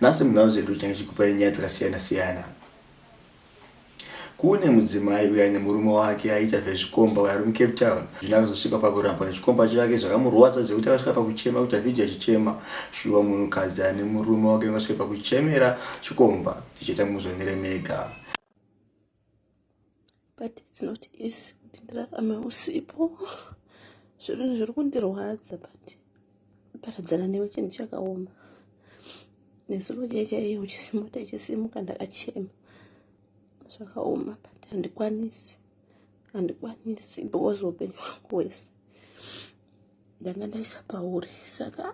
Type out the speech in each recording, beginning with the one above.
Nhasi munhau dzedu tinenge tichikupai nyaya dzakasiyana siyana. Kune mudzimai uyo aine murume wake aiita zvezvikomba uyo ari muCape Town. Zvino akazosvika pakurambwa nechikomba chake zvakamurwadza zvekuti akasvika pakuchema kuita vhidhiyo achichema. Shuwa munhukadzi ane murume wake ungasvike pakuchemera chikomba? Ndichaita muzvionere mega. but it's not easy kuti ndirarame usipo zvinhu zviri kundirwadza but paradzana newe chinhu chakaoma nezuro chee chaiye uchisimuka ichisimuka ndakachema zvakaoma but handikwanisi handikwanisi because upenyu hwangu hwese ndanga ndaisa pauri saka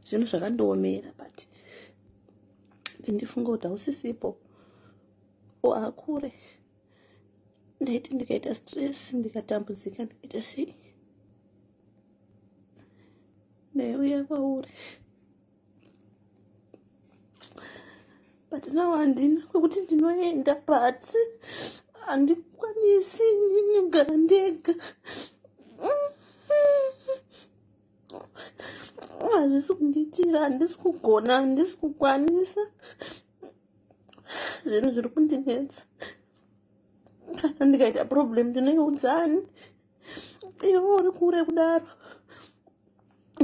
zvinhu zvakandiomera but ndindifunga kuti hausisipo o akure ndaiti ndikaita stress ndikatambudzika ndikaita sei ndaiuya kwauri but now handina kwekuti ndinoenda but handikwanisi ndinogara ndega hazvisi kundiitira handisi kugona handisi kukwanisa zvinhu zviri kundinetsa kana ndikaita problem ndinoiudzani ivo uri kure kudaro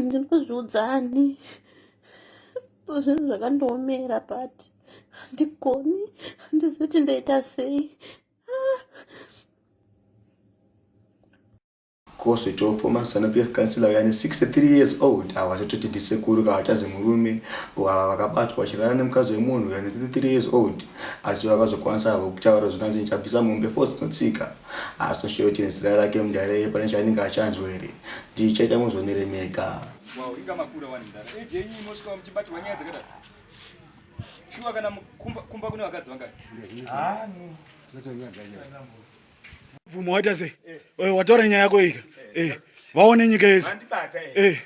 ndinozviudzani zvinhu zvakandiomera pati handigoni handizi kuti ndaita sei Ko zvitofo ma zanu PF councillor uya ane 63 years old awa zvatoti ndisekuru ka hachazi murume or ava vakabatwa vachirara nemukadzi wemunhu uya ane 33 years old asi vakazokwanisa havo kutaura zvino hanzi ndichabvisa mombe 4 dzinotsika haasi noshoyo kuti nezera rake mudare iye pane chaanenge achanzwa here ndichaita muzvonere mega wow inga makura wani mudare age yenyu mosvika muchibatirwa nyaya dzakadaro shuwa kana kumba kune vakadzi vangani ah, Mvumo waita sei? Eh. eh wataura nyaya yako ika. Eh. eh. Vaone nyika yese. Eh.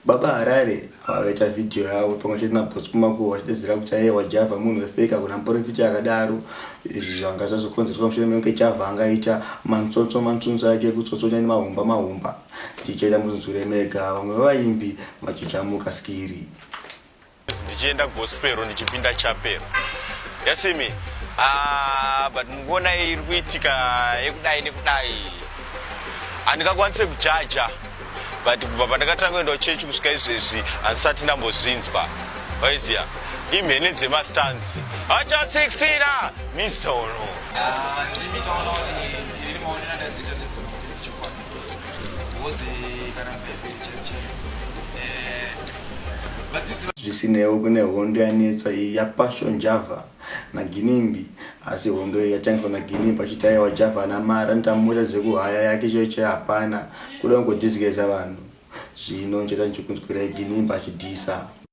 Baba Harare vakaita video yavo pamwe chete naBoss Kumakuwa vachidedzera kuti aiye wajava munhu wefeka kuna muporofiti akadaro izvi zvanga zvazokonzerwa mushure mekunge java angaita mantsotso mansunzo ake ekutsotsonya nemahomba mahomba tichaita muzunzure mega vamwe vevaimbi vachichamuka skiri ndichienda gospero ndichipinda chapero yasimi ah, but mukuona iri kuitika yekudai nekudai handingakwanise kujaja but kubva pandakatanga kuendawo chechi kusvika izvezvi handisati ndambozvinzwa waiziya imhene dzemastanzi hacha 16 a mr ono ah, Zvisinewo kune hondo yanetsa iyi yapaswa Java naGinimbi asi hondo iyi yatangiswa naGinimbi achiti aiwa Java ana mari anoita mota dzekuhaya yake chaiyo chaiyo hapana kuda kungodizigeza vanhu zvino ndichaita ndichikunzwirai Ginimbi achidhisa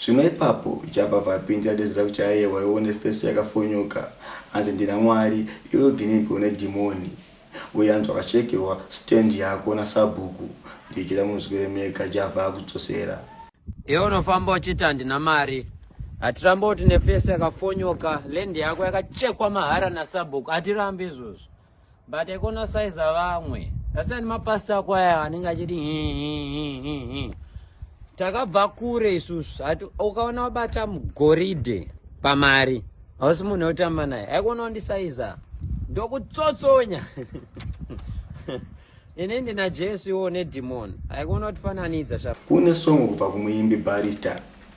Zvino ipapo Java vapindira Desiree kuti ayewa iwe une face yakafonyoka hanzi ndina Mwari iwe uginimbi une dhimoni uye hanzi wakachekerwa stand yako nasabhuku ndikira munzwire mega Java akudzosera Iwe unofamba uchiti handina mari hatirambe kuti une face yakafonyoka land yako yakachekwa mahara nasabhuku hatirambe izvozvo but I gonna size vamwe asi ani mapastor ako aya anenge achiti takabva kure isusu ati ukaona wabata mugoridhe pamari hausi munhu wekutamba naye aikona wandisaiza ndokutsotsonya ini ndina jesu iwo nedhimoni aikona kutifananidza kune songo kubva kumuimbi barista